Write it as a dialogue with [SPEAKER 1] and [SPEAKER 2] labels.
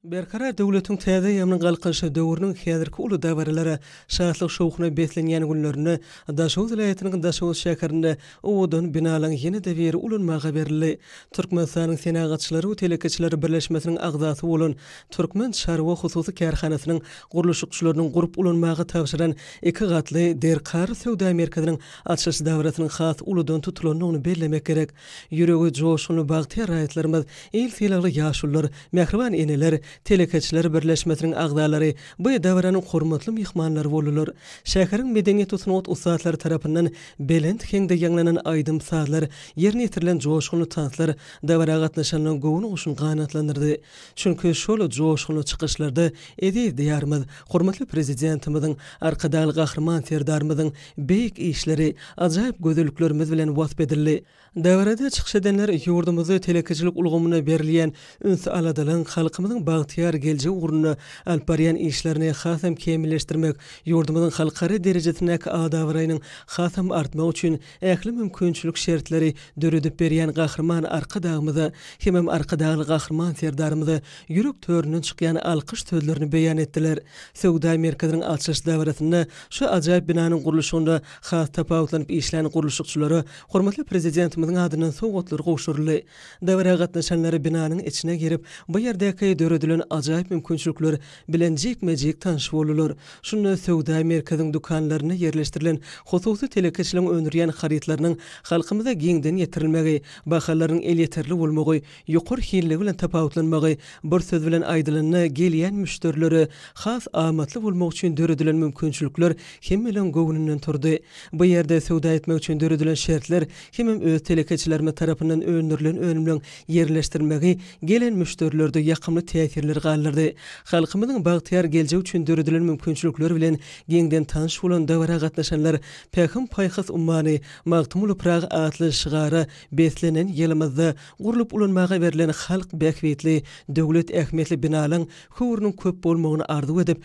[SPEAKER 1] Berkarar döwletiň täze ýaman galkynyşy döwrüniň häzirki uly dabaralara, şatlyk-şowhuna beslenýän günlerinde Daşoguz welaýatynyň Daşoguz şäherinde owadan binalaryň ýene-de biri ulanmaga berildi. Türkmenistanyň Senagatçylary we telekeçileri birleşmesiniň agzasy bolan Türkmen çarwa hususy kärhanasynyň gurluşykçylarynyň gurup ulanmaga tabşyran iki gatly Derkar söwda merkeziniň açylyş dabarasynyň has uludan tutulandygyny bellemek gerek. Ýüregi joşgunly bagtyýar raýatlarymyz, il sylagly ýaşulular, mähriban eneler, telekeçiler birleşmesiniň agzalary bu dabaranyň hormatly myhmanlary boldular. Şäheriň medeniýet-u sungat ussatlary tarapyndan belent heňde ýaňlanan aýdym-sazlar, ýerine ýetirilen joşgunly tanslar dabara gatnaşanlaryň göwün-guşuny ganatlandyrdy. Çünki şol joşgunly çykyşlarda eziz Diýarymyz, hormatly Prezidentimiziň, Arkadagly Gahryman Serdarymyzyň beýik işleri, ajaýyp gözelliklerimiz bilen wasp edildi. Dabarada çykyş edenler ýurdumyzda telekeçilik ulgamyna berilýän üns-aladalygyň halkymyzyň bagtyýar geljegi ugrunda alyp barýan işlerini hasam kämilleşdirmek, ýurdumyzyň halkara derejesindäki ad-abraýynyň hasam artmagy üçin Ähli mümkinçilik şertleri döredip berýän Gahryman Arkadagymyza hemem Arkadagly Gahryman Serdarymyza ýürek töründen çykýan alkyş sözlerini beýan etdiler. Söwda merkeziniň açylyş dabarasynda şu ajaýyp binanyň gurluşygynda has tapawutlanyp işlän gurluşykçylara hormatly Prezidentimiziň adyndan sowgatlar gowşuryldy. Dabara gatnaşanlar binanyň içine girip, bu ýerdäki döredilen ajaýyp mümkinçilikler bilen jikme-jik tanyş boldular. Şunda söwda merkeziň dükanlarynda ýerleşdirilen hususy telekeçiligiň öndürýän harytlarynyň halkymyza giňden ýetirilmegi, bahalarynyň elýeterli bolmagy, ýokary hilligi bilen tapawutlanmagy, bir söz bilen aýdylanda, gelýän müşderilere has amatly bolmak üçin döredilen mümkinçilikler hemmeleriň göwnünden turdy. Bu ýerde söwda etmek üçin döredilen şertler hemem öz telekeçilerimiz tarapyndan öndürilen önümleriň ýerleşdirilmegi gelen müşderilerde ýakymly täsirleri galdyrdy. Halkymyzyň bagtyýar geljegi üçin döredilen mümkinçilikler bilen giňden tanyş bolan dabara gatnaşanlar Pähim-paýhas ummany, Magtymguly Pyragy atly şygara beslenen ýylymyzda gurlup ulanmaga berlen halk bähbitli, döwlet ähmiýetli binalaryň höwrüniň köp bolmagyny arzuw edip,